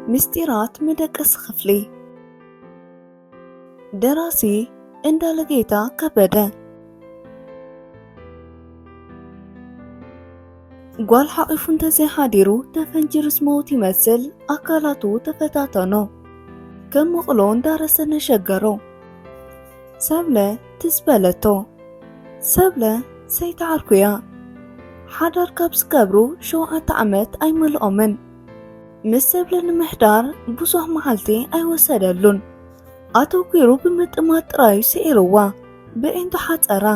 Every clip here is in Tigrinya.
ምስጢራት መደቀሲ ክፍሊ ደራሲ እንዳለጌታ ከበደ ጓል ሓቒፉ እንተዘይሓዲሩ ተፈንጂሩስ መውት ይመስል ኣካላቱ ተፈታተኖ ከም መቕሎ እንዳረሰ ነሸገሮ ሰብለ ትዝ በለቶ ሰብለ ሰይትዓርኩያ ሓዳር ካብ ዝገብሩ ሸውዓተ ዓመት ኣይመልኦምን ምስ ሰብለ ንምሕዳር ብዙሕ መዓልቲ ኣይወሰደሉን ኣተኲሩ ብምጥማት ጥራዩ ስዒርዋ ብዒንቱ ሓፀራ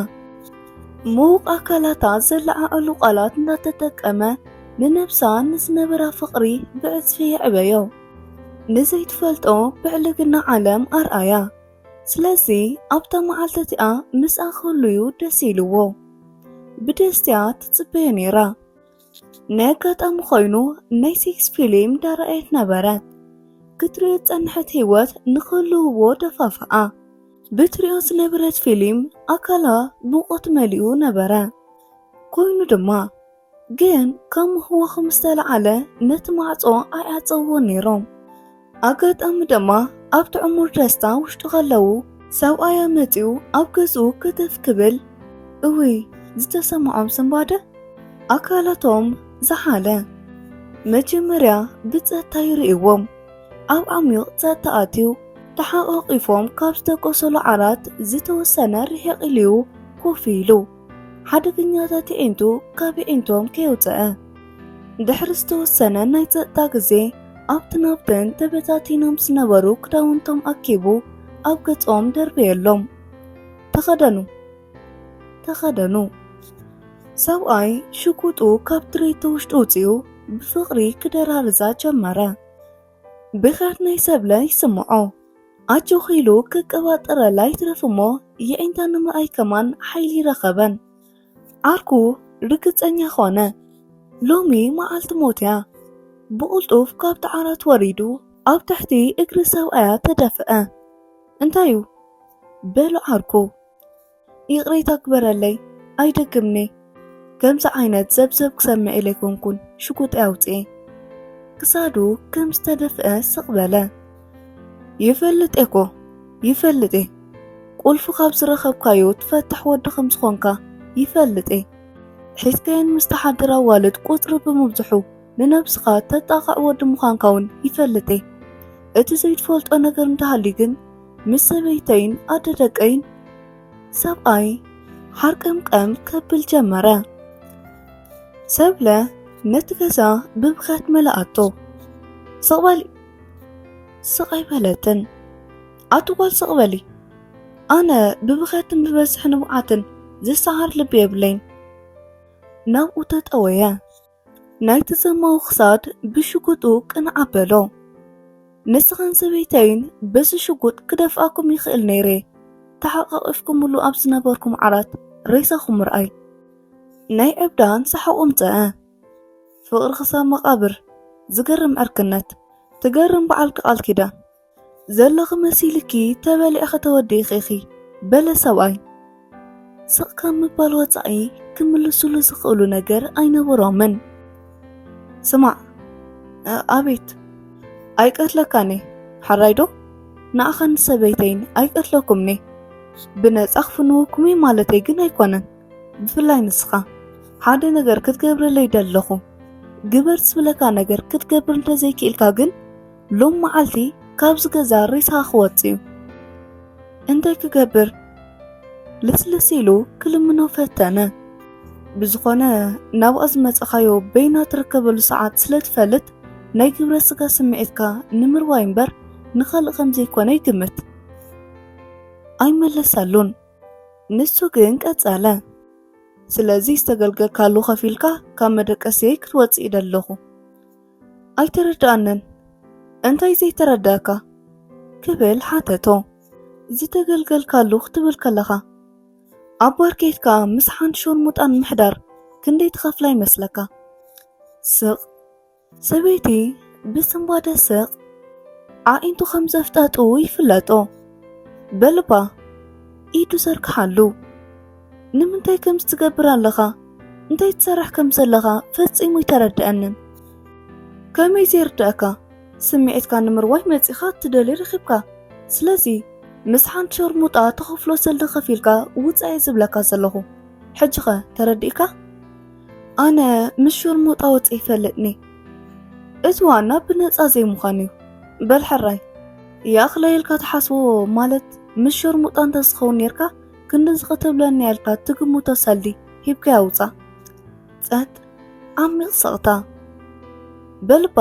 ምዉቕ ኣካላታ ዘለዓዕሉ ቃላት እናተጠቀመ ንነብሳ ንዝነበራ ፍቕሪ ብዕጽፊ የዕበዮ ንዘይትፈልጦ ብዕልግና ዓለም ኣርኣያ ስለዚ ኣብታ መዓልቲ እቲኣ ምስኣ ክህሉዩ ደስ ኢልዎ ብደስትያ ትጽበዮ ነይራ ነጋጣሚ ኮይኑ ናይ ሴክስ ፊልም ዳረኣየት ነበረት ክትሪኦ ዝጸንሐት ህይወት ንኽህልውዎ ደፋፍኣ ብትሪኦ ዝነበረት ፊልም ኣካላ ሙቆት መሊኡ ነበረ ኮይኑ ድማ ግን ካብ ምህወኹ ምስ ተለዓለ ነቲ ማዕጾ ኣይዓጸውዎ ነይሮም ኣጋጣሚ ድማ ኣብቲ ዕሙር ደስታ ውሽጡ ከለዉ ሰብኣያ መጺኡ ኣብ ገዝኡ ክትፍ ክብል እውይ ዝተሰምዖም ስንባደ ኣካላቶም ዝሓለ መጀመርያ ብጸጥታ ይርእዎም ኣብ ዓሚቕ ጸጥታ ኣትዩ ተሓቛቒፎም ካብ ዝተቆሰሉ ዓራት ዝተወሰነ ርሒቕ ኢልዩ ኮፍ ኢሉ ሓደገኛታት የዒንቱ ካብ የዒንቶም ከየውፅአ ድሕሪ ዝተወሰነ ናይ ፀጥታ ግዜ ኣብቲ ናብተን ተበታቲኖም ዝነበሩ ክዳውንቶም ኣኪቡ ኣብ ገጾም ደርበየሎም። ተኸደኑ ተኸደኑ። ሰብኣይ ሽጉጡ ካብ ድሬቶ ውሽጡ ውፅኡ ብፍቕሪ ክደራርዛ ጀመረ። ብኽያት ናይ ሰብለ ይስምዖ ኣጆኺ ኢሉ ክቀባጠረላ ይትረፍ እሞ የዒንታ ንምርኣይ ከማን ሓይሊ ረኸበን። ዓርኩ ርግጸኛ ኾነ። ሎሚ መዓልቲ ሞት'ያ። ብቕልጡፍ ካብቲ ዓራት ወሪዱ ኣብ ትሕቲ እግሪ ሰብኣያ ተደፍአ። እንታይ'ዩ? በሎ ዓርኩ። ይቕሬታ ግበረለይ ኣይደግምኔ ከምዚ ዓይነት ዘብዘብ ክሰምዕ ኢለ ኣይኮንኩን ሽጉጠይ ኣውፅኤ ክሳዱ ከም ዝተደፍአ ስቕ በለ ይፈልጥ እኮ ይፈልጥ እየ ቁልፊ ካብ ዝረኸብካዮ ትፈትሕ ወዲ ከም ዝኾንካ ይፈልጥ እየ ሒዝካየን ምስ ተሓድር ኣዋልድ ቁፅሪ ብምብዝሑ ንነብስኻ ተጣቕዕ ወዲ ምዃንካ ውን ይፈልጥ'የ። እቲ ዘይትፈልጦ ነገር እንተሃልዩ ግን ምስ ሰበይተይን ኣደ ደቀይን ሰብኣይ ሓርቀምቀም ከብል ጀመረ። ሰብለ ነቲ ገዛ ብብኽያት መለኣቶ ስቕበሊ ስቓይ በለትን ኣትጓል ስቕበሊ ኣነ ብብኽያትን ብበዝሒ ንብዓትን ዝሰዓር ልቢ የብለይን ናብኡ ተጠወየ ናይ ተሰማው ክሳድ ብሽጉጡ ቅንዕ ኣበሎ። ንስኻን ሰበይተይን በዚ ሽጉጥ ክደፍኣኩም ይኽእል ነይረ። ተሓቛቒፍኩምሉ ኣብ ዝነበርኩም ዓራት ሬሳኹም ምርኣይ። ናይ ዕብዳን ሰሓቖም ፀዐ። ፍቕሪ ክሳብ መቓብር፣ ዝገርም ዕርክነት፣ ትገርም በዓልኪ ቃል ኪዳን። ዘለኺ መሲልኪ ተበሊዕኺ ተወዲእኺ ኢኺ በለ ሰብኣይ። ስቕ ካብ ምባል ወጻኢ ክምልሱሉ ዝኽእሉ ነገር ኣይነበሮምን። ስማዕ፣ ኣቤት፣ ኣይቀትለካን እየ ሓራይዶ? ንኣኻን ሰበይተይን ኣይቀትለኩምኒ። ብነጻ ክፍንወኩም እዩ ማለተይ ግን ኣይኮነን። ብፍላይ ንስኻ ሓደ ነገር ክትገብረለይ ደለኹ ግበር ዝብለካ ነገር ክትገብር እንተዘይክኢልካ ግን ሎም መዓልቲ ካብዚ ገዛ ሬሳ ክወጽእ እዩ እንታይ ክገብር ልስልስ ኢሉ ክልምኖ ፈተነ። ብዝኾነ ናብኣ ዝመጸኻዮ በይና ትርከበሉ ሰዓት ስለ ትፈልጥ ናይ ግብረ ስጋ ስምዒትካ ንምርዋይ እምበር ንኻልእ ከም ዘይኮነ ይግምት። ኣይመለሰሉን። ንሱ ግን ቀጸለ። ስለዚ ዝተገልገልካሉ ከፊልካ ካብ መደቀስየይ ክትወጽእ ይደለኹ። ኣይተረድኣንን እንታይ ዘይተረድኣካ ክብል ሓተቶ ዝተገልገልካሉ ክትብል ከለኻ ኣብ ባርኬት ከዓ ምስ ሓንቲ ሾርሙጣን ምሕዳር ክንደይ ትኸፍላ ይመስለካ ስቕ ሰበይቲ ብስንባደ ስቕ ኣዒንቱ ከም ዘፍጣጡ ይፍለጦ በልባ ኢዱ ዘርግሓሉ ንምንታይ ከምዚ ትገብር ኣለኻ? እንታይ ትሰርሕ ከም ዘለኻ ፈጺሙ ኣይተረድኣንን። ከመይ ዘይርዳእካ? ስምዒትካ ንምርዋይ መጺኻ እትደልዮ ረኺብካ። ስለዚ ምስ ሓንቲ ሸርሙጣ ትኸፍሎ ሰልዲ ከፊልካ ውጻእ እየ ዝብለካ ዘለኹ። ሕጂኸ ተረዲእካ? ኣነ ምስ ሸርሙጣ ወጽ ይፈልጥኒ። እቲ ዋና ብነጻ ዘይምዃን እዩ። በል ሕራይ ይኣኽለየልካ ትሓስቦ ማለት ምስ ሸርሙጣ እንተዝኸውን ነርካ ክንድዚ ክትብለኒ ኣልካ ትግምቶ ሰልዲ ሂብካ ያውፃ ፀጥ ዓሚቕ ሰቕታ በልባ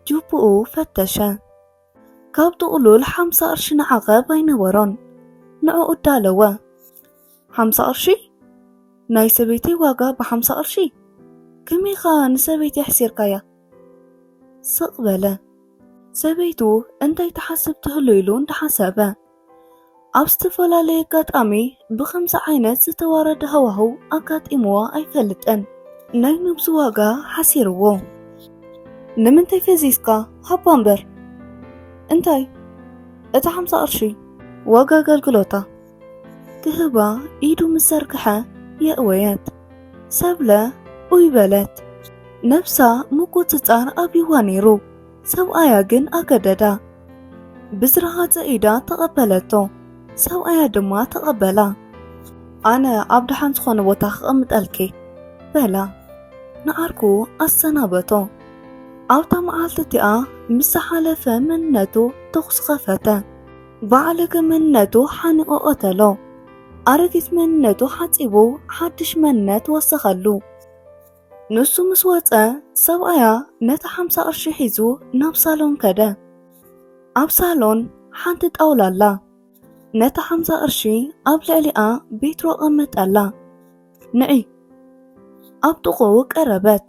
ጁብኡ ፈተሸ ካብ ጥቕሉል ሓምሳ ቅርሺ ንዓቐብ ኣይነበሮን ንዕኡ እዳለወ ሓምሳ ቅርሺ ናይ ሰበይቲ ዋጋ ብሓምሳ ቅርሺ ከመይ ኸኣ ንሰበይቲ ኣሕሲርካያ ስቕ በለ ሰበይቱ እንታይ ትሓስብ ትህሉ ኢሉ እንዳሓሰበ ኣብ ዝተፈላለየ ኣጋጣሚ ብኸምዚ ዓይነት ዝተዋረደ ሃዋህው ኣጋጢምዋ ኣይፈልጥን። ናይ ነብሱ ዋጋ ሓሲርዎ ንምንታይ ፈዚዝካ ሃባ እምበር እንታይ እቲ ሓምሳ ቅርሺ ዋጋ ኣገልግሎታ ክህባ ኢዱ ምስ ዘርግሐ የእወየት ሰብለ ኡይ በለት ነብሳ ምቁፅፃር ኣብይዋ ነይሩ ሰብኣያ ግን ኣገደዳ። ብዝረሃጸ ኢዳ ተቐበለቶ፣ ሰብኣያ ድማ ተቐበላ። ኣነ ኣብ ደሓን ዝኾነ ቦታ ክቐምጠልኪ በላ። ንዓርኩ ኣሰናበቶ። ኣብታ መዓልቲ እቲኣ ምስ ዝሓለፈ መንነቱ ተኹሲ ኸፈተ። ባዕለገ መንነቱ ሓኒቖ ቐተሎ። ኣረጊት መንነቱ ሓጺቡ ሓድሽ መንነት ወሰኸሉ። ንሱ ምስ ወጸ ሰብኣያ ነታ ሓምሳ ቅርሺ ሒዙ ናብ ሳሎን ከደ። ኣብ ሳሎን ሓንቲ ጣውላ ኣላ። ነታ ሓምሳ ቅርሺ ኣብ ልዕሊኣ ቤትሮ ቀመጠላ። ንዒ ኣብ ጥቕኡ ቀረበት።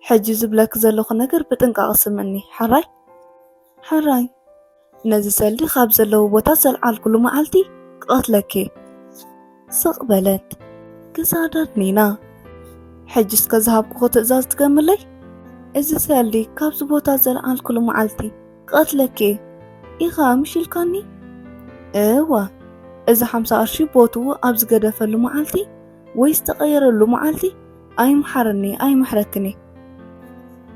ሕጂ ዝብለኪ ዘለኹ ነገር ብጥንቃቐ ስምዕኒ ሕራይ። ሕራይ ነዚ ሰልዲ ኻብ ዘለዎ ቦታ ዘልዓልኩሉ መዓልቲ ክቐትለኪ ስቕ በለት ክሳዳ ድኒና ሕጂ እስከ ዝሃብኩኹ ትእዛዝ ትገምለይ እዚ ሰልዲ ካብዚ ቦታ ዘልዓልኩሉ መዓልቲ ክቐትለኪ ኢኻ ምሽ ኢልካኒ እዋ እዚ ሓምሳ ቅርሺ ቦትኡ ኣብ ዝገደፈሉ መዓልቲ ወይ ዝተቐየረሉ መዓልቲ ኣይምሓረኒ ኣይምሕረክኒ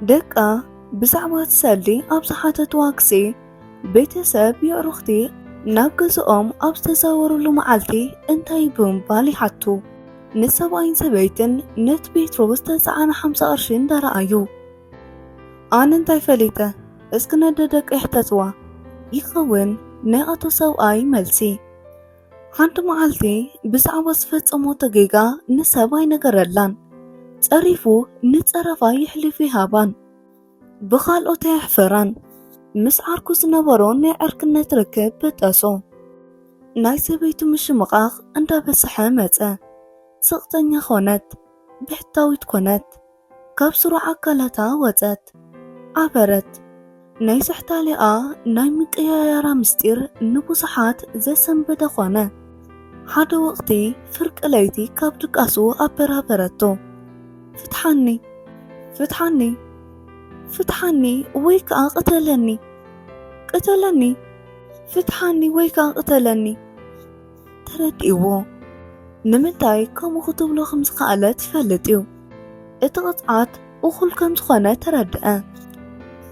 ደቃ ብዛዕባ እቲ ሰልዲ ኣብ ዝሓተትዋ ግዜ ቤተሰብ የዕሩኽቲ ናብ ገዝኦም ኣብ ዝተዛወሩሉ መዓልቲ እንታይ ብምባል ይሓቱ ንሰብኣይን ሰበይትን ነቲ ጴጥሮስ ዝተጻዕነ ሓምሳ ቅርሺ እንዳረኣዩ ኣነ እንታይ ፈሊጠ እስኪ ነደ ደቂ ይሕተትዋ ይኸውን ናይ ኣቶ ሰብኣይ መልሲ ሓንቲ መዓልቲ ብዛዕባ ዝፈጸሞቶ ጌጋ ንሰብ ኣይነገረላን። ጸሪፉ ንጸረፋ ይሕልፍ ይሃባን ብኻልኦት ኣየሕፈራን። ምስ ዓርኩ ዝነበሮ ናይ ዕርክነት ርክብ በጠሶ። ናይ ሰበይቱ ምሽምቓቕ እንዳበሰሐ መጸ። ስቕተኛ ኮነት፣ ብሕታዊት ኮነት። ካብ ስሩዕ ኣካላታ ወጸት ኣበረት ናይ ስሕታሌኣ ናይ ምቅያያራ ምስጢር ንብዙሓት ዘሰንበደ ኮነ። ሓደ ወቕቲ ፍርቂ ለይቲ ካብ ድቃሱ ኣበራበረቶ። ፍትሓኒ! ፍትሓኒ! ፍትሓኒ ወይ ከኣ ቅተለኒ! ቅተለኒ! ፍትሓኒ ወይ ከኣ ቅተለኒ! ተረዲእዎ ንምንታይ ከምኡ ክትብሎ ከም ዝኸኣለት ይፈልጥ እዩ። እቲ ቅፅዓት እኹል ከም ዝኾነ ተረድአ።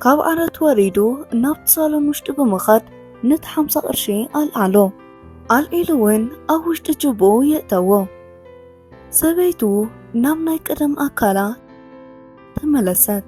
ካብ ዓረት ወሪዱ ናብቲ ሳሎን ውሽጢ ብምኻድ ነቲ ሓምሳ ቅርሺ ኣልዓሎ። ኣልዒሉ እውን ኣብ ውሽጢ ጅብኡ የእተዎ። ሰበይቱ ናብ ናይ ቀደም ኣካላ ተመለሰት።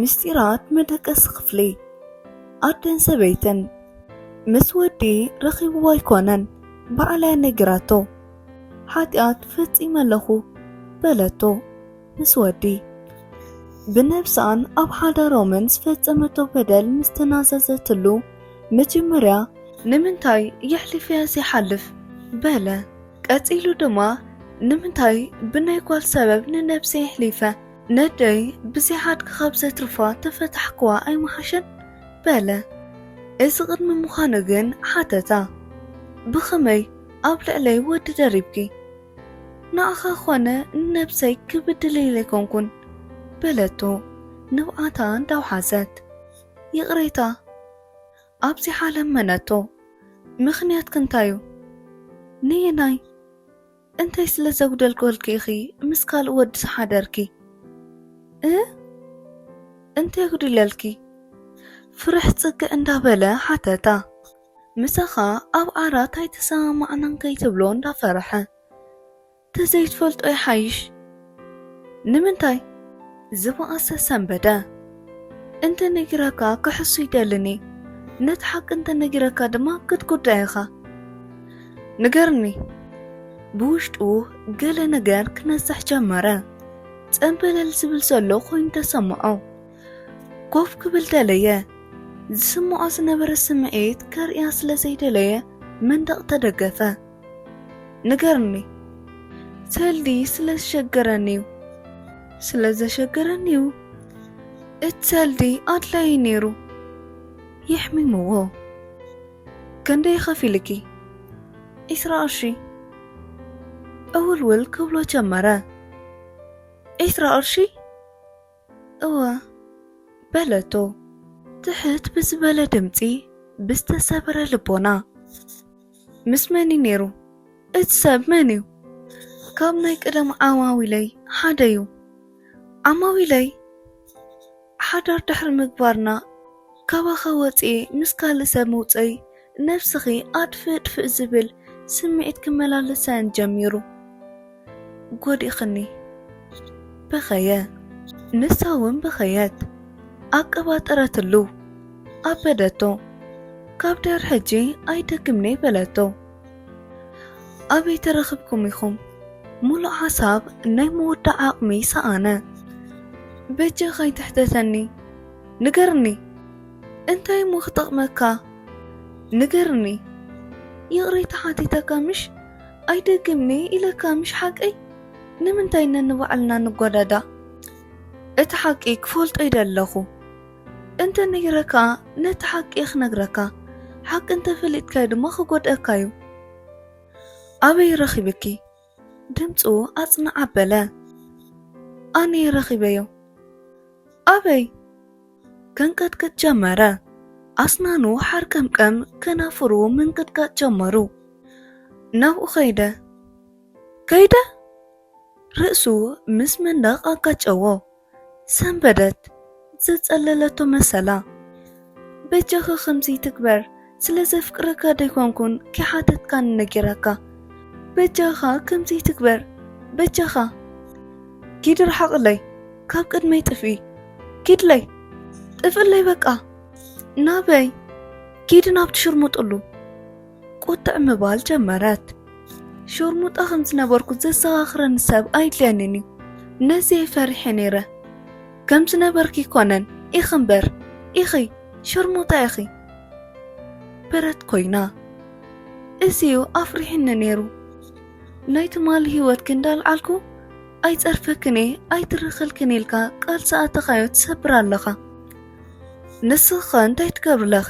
ምስጢራት መደቀሲ ክፍሊ ኣደን ሰበይትን ምስ ወዲ ረኺብዎ ኣይኮነን ባዕላ ነገራቶ ሓጢኣት ፈጺመ ኣለኹ በለቶ ምስ ወዲ ብነብሳን ኣብ ሓዳሮምን ዝፈጸመቶ በደል ምስ ተናዘዘትሉ መጀመርያ ንምንታይ የሕሊፈያ ዘይሓልፍ በለ ቀጺሉ ድማ ንምንታይ ብናይ ጓል ሰበብ ንነብሰይ የሕሊፈ ነደይ ብዘይ ሓድጊ ካብ ዘትርፋ ተፈታሕክዋ ኣይምሓሸን? በለ። እዚ ቅድሚ ምዃኑ ግን ሓተታ፣ ብኸመይ ኣብ ልዕለይ ወዲ ደሪብኪ? ንዓኻ ኾነ ንነብሰይ ክብድል ኢለ ኣይኮንኩን። በለቶ ንብዓታ እንዳውሓዘት። ይቕሬታ። ኣብዚሓ ለመነቶ። ምኽንያትኪ እንታይ'ዩ? ነየናይ? እንታይ ስለ ዘጉደልኮልኪ ኢኺ ምስ ካልእ ወዲ ዝሓደርኪ እ እንታይ ጉዲለልኪ ፍርሕ ጽግዕ እንዳበለ ሓተታ ምሳኻ ኣብ ዓራት ኣይተሰማማዕናን ከይትብሎ እንዳፈርሐ ተዘይትፈልጦ ይሓይሽ ንምንታይ ዝበኣሰ ሰንበደ እንተ ነጊረካ ክሕሱ ይደልኒ ነቲ ሓቂ እንተ ነጊረካ ድማ ክትጉዳ ኢኻ ንገርኒ ብውሽጡ ገለ ነገር ክነሳሕ ጀመረ ጸንበለል ዝብል ዘሎ ኮይኑ ተሰምዖ ኮፍ ክብል ደለየ ዝስምዖ ዝነበረ ስምዒት ከርእያ ስለ ዘይደለየ መንደቕ ተደገፈ ንገርኒ ተልዲ ስለ ዝሸገረኒ እዩ ስለ ዘሸገረኒ እዩ እቲ ተልዲ ኣድላዪ ነይሩ የሕሚምዎ ክንደይ ኸፊልኪ ዒስራ ቅርሺ እውልውል ክብሎ ጀመረ ዒስራ ቅርሺ እወ በለቶ ትሕት ብዝበለ ድምጺ ብዝተሰብረ ልቦና። ምስ መን'ዩ ነይሩ? እቲ ሰብ መን'ዩ? ካብ ናይ ቀደም ዓማዊለይ ሓደ'ዩ። ዓማዊለይ ሓዳር ድሕሪ ምግባርና ካባኻ ወጺኤ ምስ ካልእ ሰብ ምውጸይ ነብስኺ ኣድፍእ ድፍእ ዝብል ስምዒት ክመላለሰን ጀሚሩ። ጎዲእክኒ። በኸየ። ንሳ ውን በኸየት። ኣቀባጠረትሉ። ኣበደቶ። ካብ ድሕር ሕጂ ኣይደግምን'የ በለቶ። ኣበይ ተረኽብኩም ኢኹም? ሙሉእ ሓሳብ ናይ ምውዳእ ዓቕሚ ሰኣነ። በጃኻ ኣይትሕተተኒ። ንገርኒ! እንታይ እሞ ክጠቕመካ ንገርኒ ይቕሬታ ሓቲተካ ምሽ ኣይደግምንየ ኢለካ ምሽ ሓቀይ ንምንታይ ነንባዕልና ንጓዳዳ እቲ ሓቂ ክፈልጦ ኢደ ኣለኹ እንተ ነጊረካ ነቲ ሓቂ እየ ክነግረካ ሓቂ እንተፈሊጥካዮ ድማ ክጎድአካ እዩ ኣበይ ረኺብኪ ድምጹ ኣጽንዕ ኣበለ። ኣነ ረኺበዮ። ኣበይ? ከንቀጥቅጥ ጀመረ። ኣስናኑ ሓርቀምቀም ከናፍሩ ምንቅጥቃጥ ጀመሩ። ናብኡ ከይደ። ከይደ? ርእሱ ምስ መንደቕ ኣጋጨዎ። ሰንበደት ዘጸለለቶ መሰላ በጃኻ ከምዚ ትግበር ስለ ዘፍቅረካ ደይኮንኩን ከይሓተትካኒ ነጊረካ በጃኻ ከምዚ ትግበር በጃኻ ኪድ ርሓቕለይ ካብ ቅድመይ ጥፍኢ ኪድለይ ጥፍእለይ በቃ ናበይ ኪድ ናብ ትሽርሙጥሉ ቁጥዕ ምባል ጀመረት። ሾርሙጣ ከም ዝነበርኩ ዘዘኻኽረኒ ሰብ ኣይድልየንን እዩ። ነዚየ ፈሪሐ ነይረ። ከም ዝነበርኪ ኮነን ኢኺ እምበር ኢኺ ሸርሙጣ ኢኺ ብረት ኮይና እዚዩ ኣፍሪሕኒ ነይሩ ናይ ትማሊ ህይወትኪ እንዳልዓልኩ ኣይፀርፈክን እየ ኣይትርኽልክን ኢልካ ቃል ሰኣተኻዮ ትሰብር ኣለኻ ንስኻ እንታይ ትገብርለኺ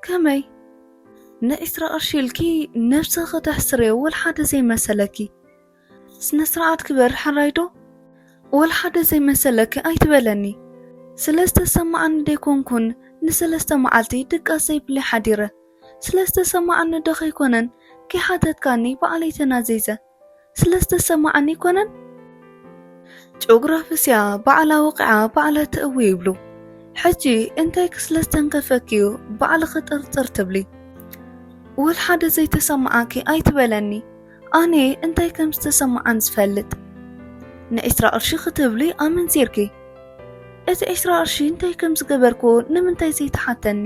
ከመይ ንዒስራ ቅርሺ ኢልኪ ነብስኪ ተሕስርዮ ወልሓደ ዘይመሰለኪ ስነስርዓት ግበሪ ሕራይ ዶ ወልሓደ ዘይመሰለኪ ኣይትበለኒ ስለዝተሰማዓኒ ደይኮንኩን ንሰለስተ መዓልቲ ድቃስ ዘይብለይ ሓዲረ ስለዝተሰማዓኒ ዶ ከይኮነን ከይሓተትካኒ ባዕለይ ተናዚዘ ስለ ዝተሰማዓኒ ኣይኮነን ጭኦግራፍስያ ባዕላ ወቂዓ ባዕላ ትእዊ ይብሉ ሕጂ እንታይ ክስለ ዝተንከፈክዩ ባዕልኺ ጥርጥር ትብሊ ወልሓደ ዘይተሰማዓኪ ኣይትበለኒ ኣነ እንታይ ከም ዝተሰማዓን ዝፈልጥ ንዒስራ ቅርሺ ክትብሊ ኣመንዚርኪ እቲ ዕስራ ቅርሺ እንታይ ከም ዝገበርክዎ ንምንታይ ዘይትሓተኒ?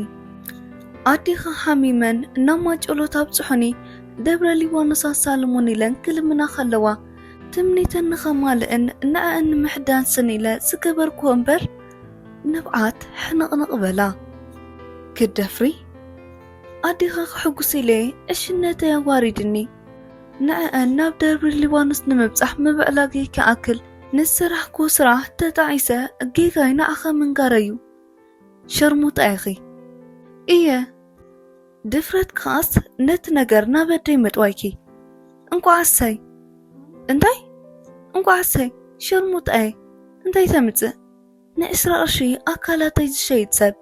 ኣዴኻ ሓሚመን ናብ ማጨሎት ኣብጽሑኒ፣ ደብረ ሊባኖስ ኣሳልሙኒ ኢለን ክልምና ከለዋ፣ ትምኒተን ንኸማልእን ንዐኣን ንምሕዳስን ኢለ ዝገበርክዎ እምበር፣ ንብዓት ሕንቕንቕ በላ። ክትደፍሪ? ኣዴኻ ክሕጉስ ኢለ ዕሽነተይ ኣዋሪድኒ፣ ንዐኣን ናብ ደብረ ሊባኖስ ንምብጻሕ ምብዕላገይ ክኣክል፣ ንስራሕኩ ስራሕ ተጣዒሰ ጌጋይ ንዓኺ ምንጋረይ እዩ ሸርሙጣ ኢኺ እየ ድፍረት ከዓስ ነቲ ነገር ናብ ኣደይ ምጥዋይኪ እንቋዓሰይ እንታይ እንቋዓሰይ ሸርሙጣ እየ እንታይ ተምፅእ ንዕስራ ቅርሺ ኣካላተይ ዝሸይጥ ሰብ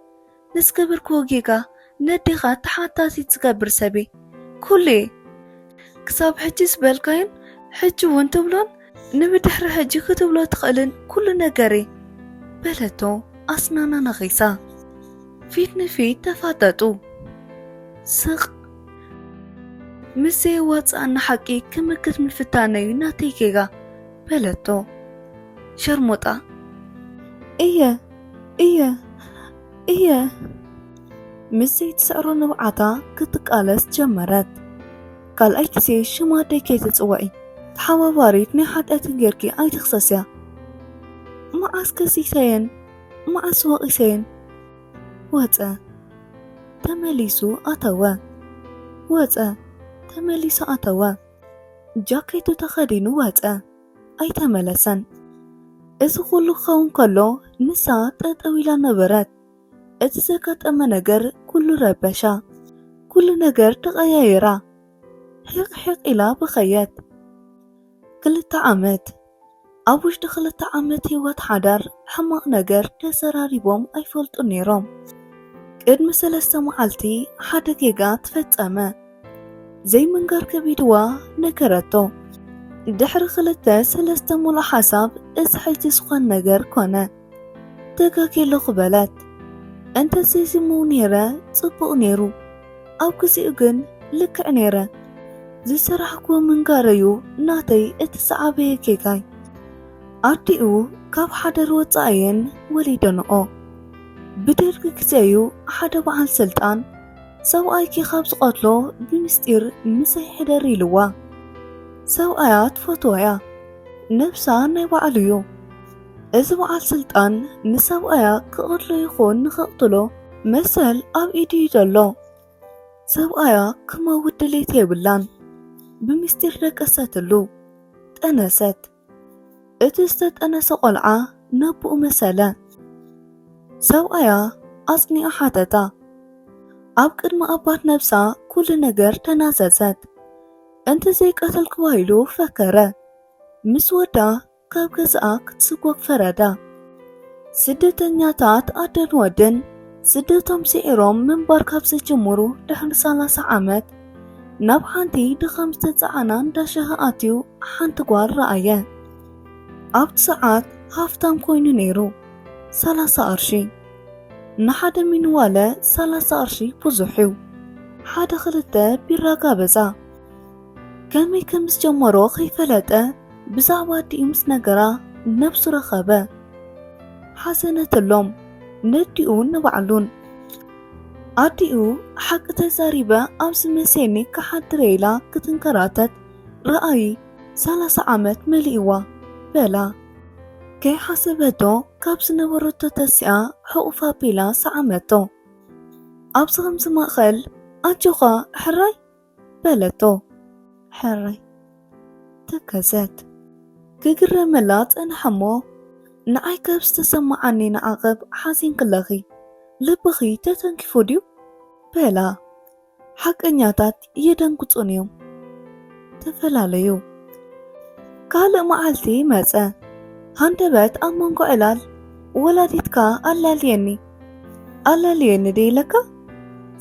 ንዝገበርክዎ ጌጋ ነዴኻ ተሓታቲት ዝገብር ሰብ'የ። ኩሉ'የ። ክሳብ ሕጂ ዝበልካዮን ሕጂ'ውን ትብሎን ንብድሕሪ ሕጂ ክትብሎ ትኽእልን ኩሉ ነገር'የ። በለቶ ኣስናና ነኺሳ። ፊት ንፊት ተፋጠጡ። ስቕ። ምስ ዘየዋጽኣና ሓቂ ክምክት ምፍታነ'ዩ ናተይ ጌጋ። በለቶ። ሸርሙጣ። እየ። እየ እየ ምስ ዘይትሰዕሮ ንብዓታ ክትቃለስ ጀመረት ካልኣይ ግዜ ሽማ ደይ ከይትፅውዒ ተሓባባሪት ናይ ሓጢኣትን ጌርኪ ኣይትኽሰስያ መዓስ ከሲሰየን መዓስ ወቒሰየን ወፀ ተመሊሱ ኣተወ ወፀ ተመሊሱ ኣተወ ጃኬቱ ተኸዲኑ ወፀ ኣይተመለሰን። እዚ ኩሉ ክኸውን ከሎ ንሳ ጠጠው ኢላ ነበረት። እቲ ዘጋጠመ ነገር ኩሉ ረበሻ። ኩሉ ነገር ተቐያየራ። ሒቕ ሒቕ ኢላ በኸየት። ክልተ ዓመት ኣብ ውሽጢ ክልተ ዓመት ህይወት ሓዳር ሕማቕ ነገር ተዘራሪቦም ኣይፈልጡን ነይሮም። ቅድሚ ሰለስተ መዓልቲ ሓደ ጌጋ ተፈጸመ። ዘይምንጋር ከቢድዋ ነገረቶ። ድሕሪ ክልተ ሰለስተ ሙሉእ ሓሳብ እዚ ሕጂ ዝኾን ነገር ኮነ። ተጋጌለኹ በለት። እንተ ዘይዝምው ነይረ ጽቡቕ ነይሩ። ኣብ ግዜኡ ግን ልክዕ ነይረ። ዝሰራሕኩዎ ምንጋረዩ ናተይ እቲ ዝዓበየ ጌጋይ። ኣዲኡ ካብ ሓዳር ወጻኣየን ወሊደንኦ። ብደርጊ ግዜዩ ሓደ በዓል ስልጣን ሰብኣይኪ ካብ ዝቐትሎ ብምስጢር ምሰይ ሕደሪ ኢልዋ ሰብኣያ ትፈትዎ እያ ነብሳ ናይ ባዕሉ እዩ እዚ በዓል ስልጣን ንሰብኣያ ክቐትሎ ይኹን ንኸቕትሎ መሰል ኣብ ኢዱ እዩ ዘሎ ሰብኣያ ክመውት ድሌት የብላን ብምስጢር ደቀሰትሉ ጠነሰት እቲ ዝተጠነሰ ቆልዓ ነቡኡ መሰለ። ሰብኣያ ኣጽኒዑ ሓተታ። ኣብ ቅድሚ ኣባት ነብሳ ኩሉ ነገር ተናዘዘት። እንተ ዘይቀተልክዋ ኢሉ ፈከረ። ምስ ወዳ ካብ ገዛኣ ክትስጎግ ፈረዳ። ስደተኛታት ኣደን ወድን ስደቶም ስዒሮም ምንባር ካብ ዝጅምሩ ድሕሪ ሰላሳ ዓመት ናብ ሓንቲ ድኻም ዝተጸዓና እንዳ ሻሂ ኣትዩ ሓንቲ ጓል ረኣየ። ኣብቲ ሰዓት ሃፍታም ኮይኑ ነይሩ፣ ሰላሳ ቅርሺ ንሓደ ሚንዋለ ሰላሳ ቅርሺ ብዙሕ እዩ። ሓደ ክልተ ቢራ ጋበዛ። ከመይ ከም ዝጀመሮ ከይፈለጠ ብዛዕባ ኣዲኡ ምስ ነገራ ነብሱ ረኸበ ሓዘነትሎም ነዲኡን ንባዕሉን ኣዲኡ ሓቂ ተዛሪበ ኣብዚ መሴኒ ክሓድረ ኢላ ክትንከራተት ረኣይ ሰላሳ ዓመት መሊእዋ በላ ከይሓሰበቶ ካብ ዝነበረቶ ተሲኣ ሕቑፍ ኣቢላ ሰዓመቶ ኣብዚ ከምዚ ማእኸል ኣጆኻ ሕራይ በለቶ ሕራይ ተከዘት ክግረመላ ጸንሐሞ ንዓይ ካብ ዝተሰማዓኒ ንዓቕብ ሓዚንክለኺ ልብኺ ተተንኪፉ ድዩ በላ ሓቀኛታት የደንግጹን እዮም ተፈላለዩ ካልእ መዓልቲ መጸ ሃንደበት ኣብ መንጎ ዕላል ወላዲትካ ኣላልየኒ ኣላልየኒ ደይለካ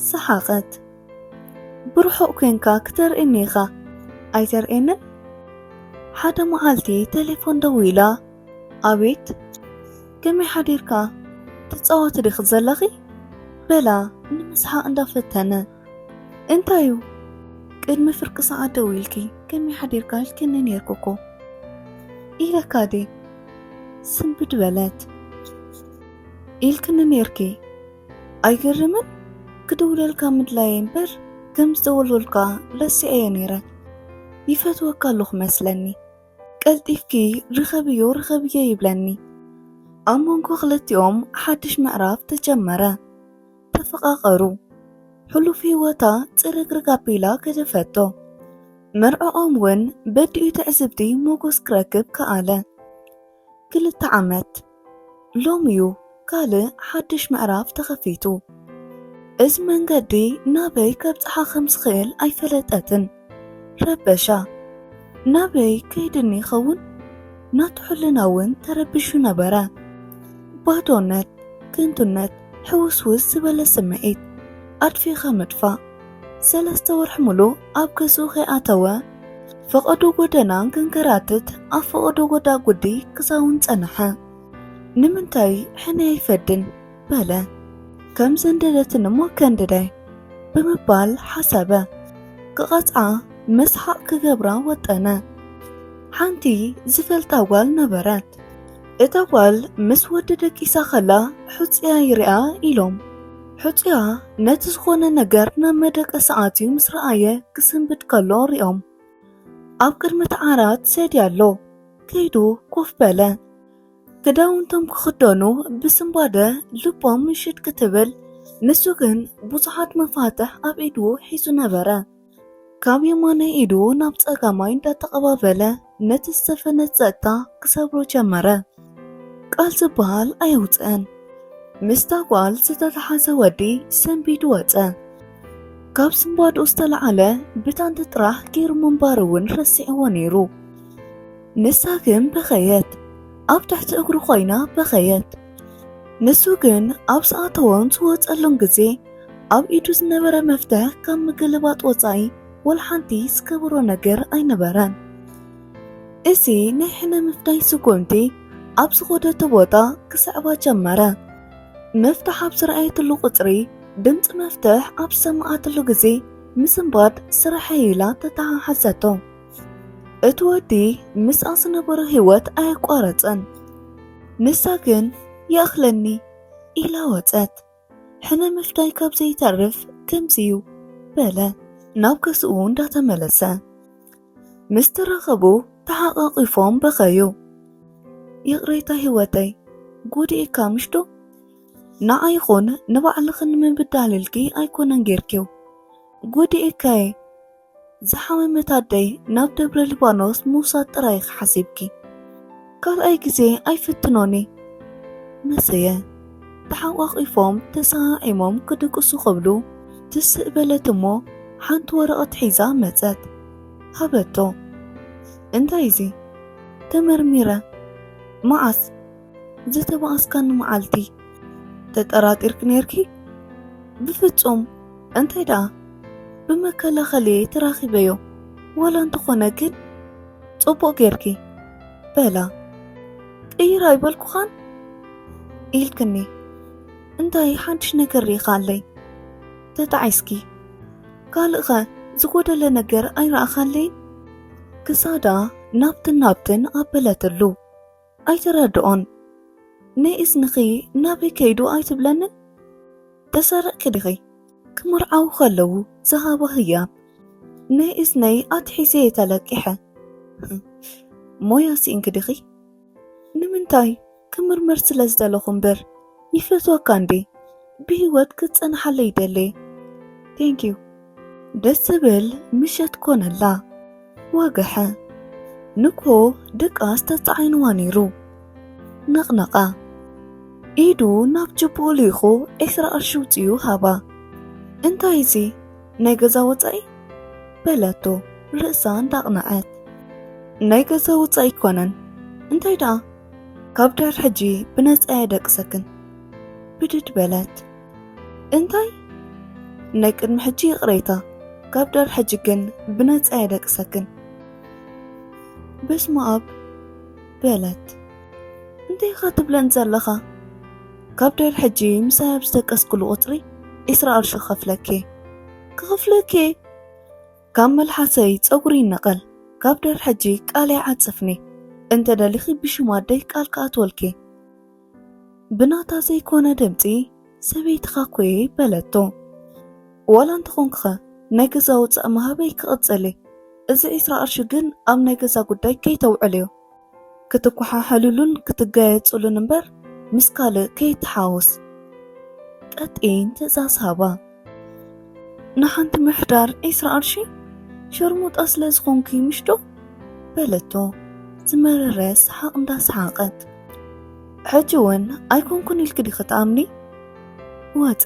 ሰሓቐት ብርሑቕ ኮንካ ክተርእየኒ ኢኻ ኣይተርእየንን? ሓደ መዓልቲ ቴሌፎን ደዊላ ኣቤት ከመይ ሓዲርካ ትፃወቲ ዲኺ ዘለኺ በላ ንምስሓቕ እንዳፈተነ እንታይ እዩ ቅድሚ ፍርቂ ሰዓት ደዊልኪ ከመይ ሓዲርካ ኢልክኒ ነይርኩ እኮ ኢለካ ድየ ስንብድ በለት ኢልክኒ ነይርኪ ኣይገርምን ክድውለልካ ምድላየ እምበር ከም ዝተወልወልካ ረሲዐዮ ነይረ ይፈትወካ ኣለኹ መስለኒ ቀልጢፍኪ ርኸብዮ ርኸብዮ ይብለኒ ኣብ መንጎ ክልቲኦም ሓድሽ ምዕራፍ ተጀመረ ተፈቓቐሩ ሕሉፍ ህይወታ ፅርግርግ ኣቢላ ገደፈቶ መርዕኦም እውን በዲኡ ትዕዝብቲ ሞጎስ ክረክብ ከኣለ ክልተ ዓመት ሎሚ'ዩ ካልእ ሓድሽ ምዕራፍ ተኸፊቱ። እዚ መንገዲ ናበይ ከብጽሓ ከም ዝኽእል ኣይፈለጠትን። ረበሻ። ናበይ ከይድኒ ይኸውን? ናቱ ሕልና እውን ተረቢሹ ነበረ። ባዶነት፣ ከንቱነት፣ ሕውስውስ ዝበለ ስምዒት፣ ኣድፊእኻ ምጥፋእ። ሰለስተ ወርሒ ሙሉእ ኣብ ገዝኡ ከይኣተወ ፈቐዶ ጎደና ክንከራትት ኣብ ፈቐዶ ጎዳጉዲ ክሳውን ጸንሐ። ንምንታይ ሕነ ኣይፈድን በለ። ከም ዘንደደትን እሞ ከንድዳይ ብምባል ሓሰበ። ክቐጽዓ መስሓቕ ክገብራ ወጠነ። ሓንቲ ዝፈልጣ ጓል ነበረት። እታ ጓል ምስ ወዲ ደቂሳ ከላ ሑጽያ ይርኣ ኢሎም ሕጹያ ነቲ ዝኾነ ነገር ናብ መደቀሲ ኣትዩ ምስ ረኣየ ክስንብድ ከሎ ሪኦም ኣብ ቅድሚ እቲ ዓራት ሰዲ ኣሎ ከይዱ ኮፍ በለ ክዳውንቶም ክኽደኑ ብስንባደ ልቦም ምሽድ ክትብል ንሱ ግን ብዙሓት መፋትሕ ኣብ ኢዱ ሒዙ ነበረ ካብ የማናይ ኢዱ ናብ ጸጋማይ እንዳተቐባበለ ነቲ ዝተፈነ ጸጥታ ክሰብሮ ጀመረ። ቃል ዝበሃል ኣየውጽእን። ምስታ ጓል ዝተተሓዘ ወዲ ሰንቢዱ ወጸ። ካብ ስንባድኡ ዝተለዓለ ብታንቲ ጥራሕ ገይሩ ምንባሩ እውን ረሲዕዎ ነይሩ። ንሳ ግን በኸየት። ኣብ ትሕቲ እግሩ ኮይና በኸየት። ንሱ ግን ኣብ ዝኣተዎን ዝወፀሉን ግዜ ኣብ ኢዱ ዝነበረ መፍትሕ ካብ ምግልባጥ ወፃኢ ወላ ሓንቲ ዝገበሮ ነገር ኣይነበረን። እዚ ናይ ሕነ ምፍዳይ ስጉምቲ ኣብ ዝኸደቶ ቦታ ክስዕባ ጀመረ። መፍትሕ ኣብ ዝረኣየትሉ ቁፅሪ ድምፂ መፍትሕ ኣብ ዝሰማዓትሉ ግዜ ምስንባድ ስርሐይ ኢላ ተተሓሓዘቶ። እቲ ወዲ ምስኣ ዝነበሮ ህይወት ኣየቋረጸን። ንሳ ግን ይኣኽለኒ ኢላ ወጸት። ሕነ ምፍዳይ ካብ ዘይተርፍ ከምዚዩ በለ ናብ ገዝኡ እንዳተመለሰ። ምስ ተራኸቡ ተሓቛቒፎም በኸዩ። ይቕሬታ ህይወተይ ጉዲእካ ምሽዶ ንዓ ይኹን ንባዕልኽን ምብዳልልኪ ኣይኮነን ጌርኪው ጉዲእካየ ዝሓመመት ኣደይ ናብ ደብረ ሊባኖስ ምውሳድ ጥራይ ኢኺ ሓሲብኪ። ካልኣይ ግዜ ኣይፍትኖን እየ። መሰየ። ተሓቋቚፎም ተሰዓዒሞም ክድቅሱ ክብሉ ትስእ በለት እሞ ሓንቲ ወረቐት ሒዛ መጸት። ሃበቶ። እንታይ እዚ? ተመርሚረ። መዓስ? ዝተባኣስካኒ መዓልቲ ተጠራጢርኪ ነርኪ? ብፍጹም እንታይ ደኣ ብመከላኸሊ ተራኺበዮ ዋላ እንተኾነ ግን ጽቡቕ ጌርኪ በላ ቅይር ኣይበልኩኻን ኢልክኒ እንታይ ሓድሽ ነገር ርኢኻ ኣለይ ተጣዒስኪ ካልእኸ ዝጎደለ ነገር ኣይረኣኻለይን ክሳዳ ናብትን ናብትን ኣበለትሉ ኣይትረድኦን ናይ እዝንኺ ናበይ ከይዱ ኣይትብለንን ተሰረቅኪ ዲኺ ክምርዓዉ ከለዉ ዝሃባ ህያብ ናይ እዝነይ ኣትሒዘየ ተለቂሐ ሞያ ሲኢንኪ ዲኺ ንምንታይ ክምርምር ስለ ዝደለኹ እምበር ይፈትወካ እንዴ ብህይወት ክትጸንሓለ ይደለ ቴንክ ዩ ደስ ዝብል ምሸት ኮነላ ወግሐ ንኮ ድቃስ ተጻዒንዋ ነይሩ ነቕነቓ ኢዱ ናብ ጅቦ ልኢኹ ዕስራ ቅርሺ ውፅኡ ሃባ እንታይ እዚ ናይ ገዛ ወፃኢ በለቶ ርእሳ እንዳቕነዐት ናይ ገዛ ወፃኢ ይኮነን እንታይ ደኣ ካብ ዳር ሕጂ ብነፃ የደቅሰክን ብድድ በለት እንታይ ናይ ቅድሚ ሕጂ ይቕሬታ ካብ ዳር ሕጂ ግን ብነፃ የደቅሰክን በስመ ኣብ በለት እንታይ ኢኻ ትብለን ዘለኻ ካብ ዳር ሕጂ ምሳይ ኣብ ዝደቀስኩሉ ቁፅሪ ዒስራ ቅርሺ ክኸፍለኪ ክኸፍለኪ ካብ መልሓሰይ ጸጉሪ ይነቐል ካብ ድር ሕጂ ቃለይ ዓጽፍኒ እንተ ደሊኺ ብሽም ኣደይ ቃል ክኣትወልኪ ብናታ ዘይኮነ ድምጺ ሰበይትኻ ኮየ በለቶ ዋላ እንተኾንክኸ ናይ ገዛ ወጻእ ምሃበይ ክቕጽል እዚ ዒስራ ቅርሺ ግን ኣብ ናይ ገዛ ጉዳይ ከይተውዕልዮ ክትኳሓሓሉሉን ክትጋየጹሉን እምበር ምስ ካልእ ከይተሓወስ። ቀጢን ትእዛዝ ሃባ። ንሓንቲ ምሕዳር ዒስራ ቅርሺ ሸርሙጣ ስለ ዝኾንኪ ምሽ ዶ? በለቶ ዝመረረ ሰሓቕ እንዳሰሓቐት። ሕጂ እውን ኣይኮንኩን ኢልኪ ዲኺ ትኣምኒ? ወጸ።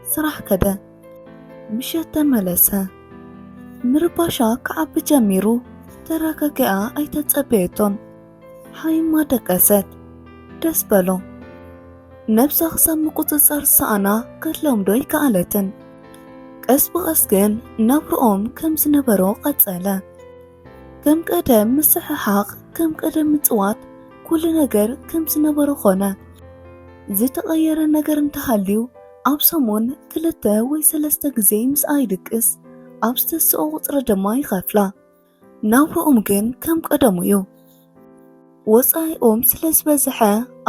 ስራሕ ከደ። ምሸት ተመለሰ። ምርባሻ ክዓቢ ጀሚሩ ተረጋጊኣ ኣይተጸበየቶን። ሓይማ ደቀሰት። ደስ በሎ። ነብሳ ክሳብ ምቁጽጻር ዝሰኣና ክትለምዶ ኣይከኣለትን። ቀስ ብቐስ ግን ናብርኦም ከም ዝነበሮ ቀጸለ። ከም ቀደም ምስሕሓቕ፣ ከም ቀደም ምጽዋት፣ ኩሉ ነገር ከም ዝነበሮ ኾነ። ዝተቐየረ ነገር እንተሃልዩ ኣብ ሰሙን ክልተ ወይ ሰለስተ ግዜ ምስኣ ይድቅስ፣ ኣብ ዝተስኦ ቁጽሪ ድማ ይኸፍላ። ናብርኦም ግን ከም ቀደሙ እዩ። ወጻኢኦም ስለ ዝበዝሐ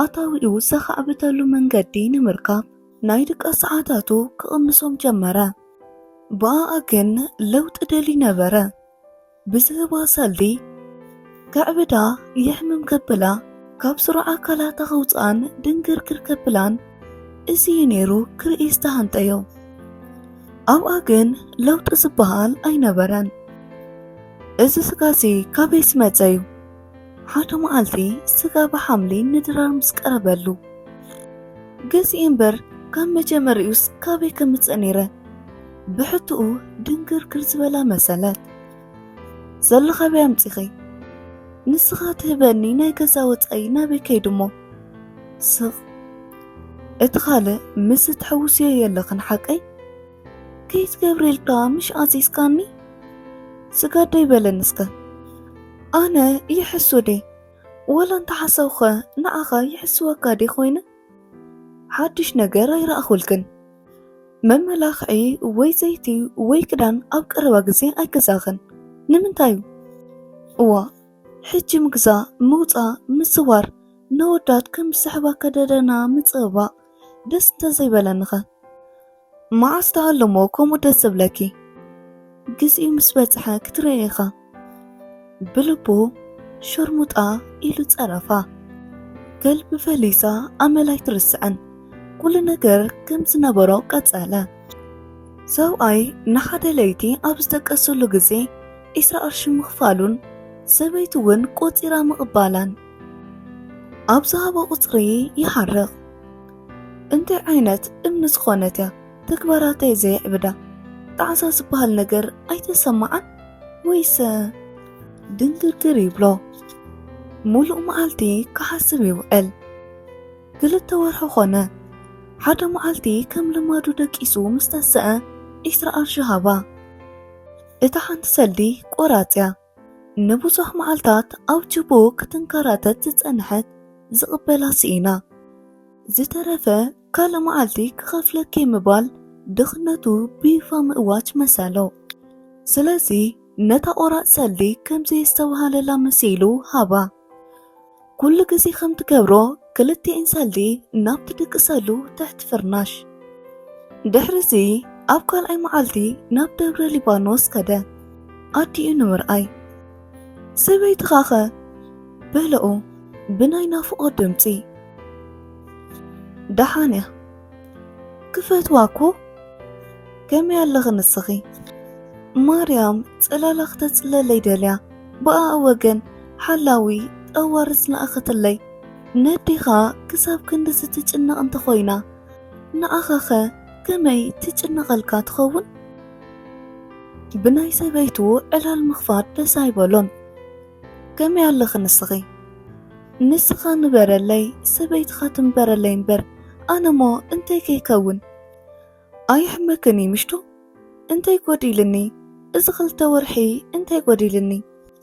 ኣታዊኡ ዘኻዕብተሉ መንገዲ ንምርካብ ናይ ድቃስ ሰዓታቱ ክቕንሶም ጀመረ። ብኣኣ ግን ለውጢ ደልዩ ነበረ። ብዝህባ ሰልዲ ከዕብዳ የሕምም ከብላ ካብ ስሩዕ ኣካላታ ከውፅኣን ድንግርግር ከብላን እዚ እዩ ነይሩ ክርኢ ዝተሃንጠዮ ኣብኣ ግን ለውጢ ዝበሃል ኣይነበረን እዚ ስጋዚ ካበይ ዝመፀ እዩ ሓደ መዓልቲ ስጋ ብሓምሊ ንድራር ምስ ቀረበሉ ገዚኤ እምበር ካብ መጀመሪኡስ ካበይ ከምፅእ ነይረ ብሕትኡ ድንግርግር ዝበላ መሰለት ዘሎ ካበይ ኣምፂኺ ንስኻ ትህበኒ ናይ ገዛ ወፃኢ ናበይ ከይዱ እሞ ስቕ እቲ ካልእ ምስ እትሕውስዮ የለኽን ሓቀይ ከይት ገብርኤል ከኣ ምሽ ኣዚዝካኒ ስጋደይ በለን እስከ ኣነ ይሕሱ ዴ ወላ እንተሓሰውኸ ንዓኻ ይሕስወካ ዴ ኮይነ ሓድሽ ነገር ኣይረኣኹልክን መመላኽዒ ወይ ዘይቲ ወይ ክዳን ኣብ ቀረባ ግዜ ኣይገዛኽን ንምንታይ እዩ እዋ ሕጂ ምግዛ ምውፃ ምስዋር ነወዳት ከም ዝስሕባ ከደደና ምፅባእ ደስ እንተዘይበለንኸ መዓስ ትሃልሞ ከምኡ ደስ ዝብለኪ ግዜኡ ምስ በጽሐ ክትርእዮ ኢኻ ብልቡ ሸርሙጣ ኢሉ ጸረፋ ከልቢ ፈሊሳ ኣመል ኣይትርስዕን ኩሉ ነገር ከም ዝነበሮ ቀጸለ ሰብኣይ ንሓደ ለይቲ ኣብ ዝተቀሰሉ ግዜ ዒስራ ቅርሺ ምኽፋሉን ሰበይቲ እውን ቆጺራ ምቕባላን ኣብ ዝሃቦ ቁጽሪ ይሓርቕ እንታይ ዓይነት እምኒ ዝኾነት እያ ተግባራተይ ዘየዕብዳ ጣዕሳ ዝበሃል ነገር ኣይተሰማዓን ወይሰ ድንግርግር ይብሎ ሙሉእ መዓልቲ ክሓስብ ይውዕል ክልተ ወርሒ ኮነ ሓደ መዓልቲ ከም ልማዱ ደቂሱ ምስ ተሰአ ዒስራ ቅርሺ ሃባ እታ ሓንቲ ሰልዲ ቆራፅ እያ ንብዙሕ መዓልታት ኣብ ችቦ ክትንከራተት ዝጸንሐት ዝቕበላ ስኢና፣ ዝተረፈ ካልእ መዓልቲ ክኸፍለኪ ምባል ድኽነቱ ብይፋ ምእዋጅ መሰሎ። ስለዚ ነታ ቆራጽ ሰልዲ ከም ዘየስተብሃለላ መሲሉ ሃባ። ኩሉ ግዜ ከም ትገብሮ ክልቲኤን ሰልዲ ናብ ትድቅሰሉ ትሕቲ ፍርናሽ ድሕሪዚ ኣብ ካልኣይ መዓልቲ ናብ ደብረ ሊባኖስ ከደ ኣዲኡ ንምርኣይ ሰበይትኻኸ በለኡ ብናይ ናፍቆ ድምፂ ደሓን እያ ክፈትዋ እኮ ከመይ ኣለኺ ንስኺ ማርያም ፅላላ ክተፅለለይ ደልያ ብኣኣ ወገን ሓላዊ ጠዋርስ ለኣኸትለይ። ነዴኻ ክሳብ ክንድዚ ትጭነቕ እንተ ኾይና፣ ንኣኻኸ ከመይ ትጭነቐልካ ትኸውን? ብናይ ሰበይቱ ዕላል ምኽፋት ደስ ኣይበሎን። ከመይ ኣለኺ ንስኺ? ንስኻ ንበረለይ፣ ሰበይትኻ ትንበረለይ እምበር፣ ኣነሞ እንተይ ከይከውን? ኣየሕመክን እዩ ምሽቱ? እንታይ ጎዲልኒ እዚ ክልተ ወርሒ እንታይ ጎዲልኒ?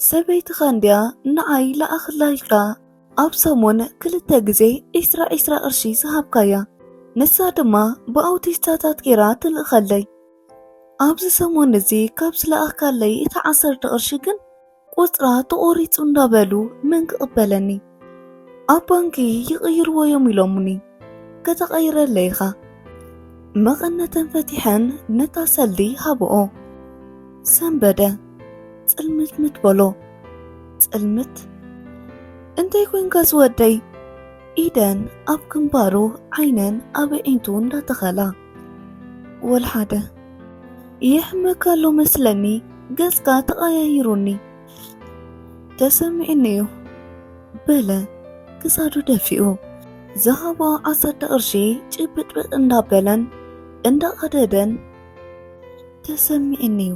ሰበይትኻ እንድያ ንዓይ ልኣኽላ ኢልካ ኣብ ሰሙን ክልተ ግዜ ዒስራ ዒስራ ቅርሺ ዝሃብካያ ንሳ ድማ ብኣውቲስታታት ጌራ ትልእኸለይ ኣብዚ ሰሙን እዚ ካብ ዝለኣኽካለይ እታ ዓሰርተ ቅርሺ ግን ቁፅራ ተቆሪፁ እንዳበሉ መን ክቕበለኒ ኣብ ባንኪ ይቕይርዎ እዮም ኢሎሙኒ ከተቐይረለይ ኢኻ መቐነተን ፈቲሐን ነታ ሰልዲ ሃብኦ ሰንበደ ፅልምትምት በሎ ፅልምት እንታይ ኮንካ ዝወደይ ኢደን ኣብ ግንባሩ ዓይነን ኣብ ኣዒንቱ እንዳተኸላ ወልሓደ ይሕመካ ኣሎ መስለኒ ገጽካ ተቐያይሩኒ ተሰሚዕኒ እዩ በለ ክሳዱ ደፊኡ ዝሃቦ ዓሰርተ ቅርሺ ጭብጥብጥ እንዳበለን እንዳቐደደን ተሰሚዕኒ እዩ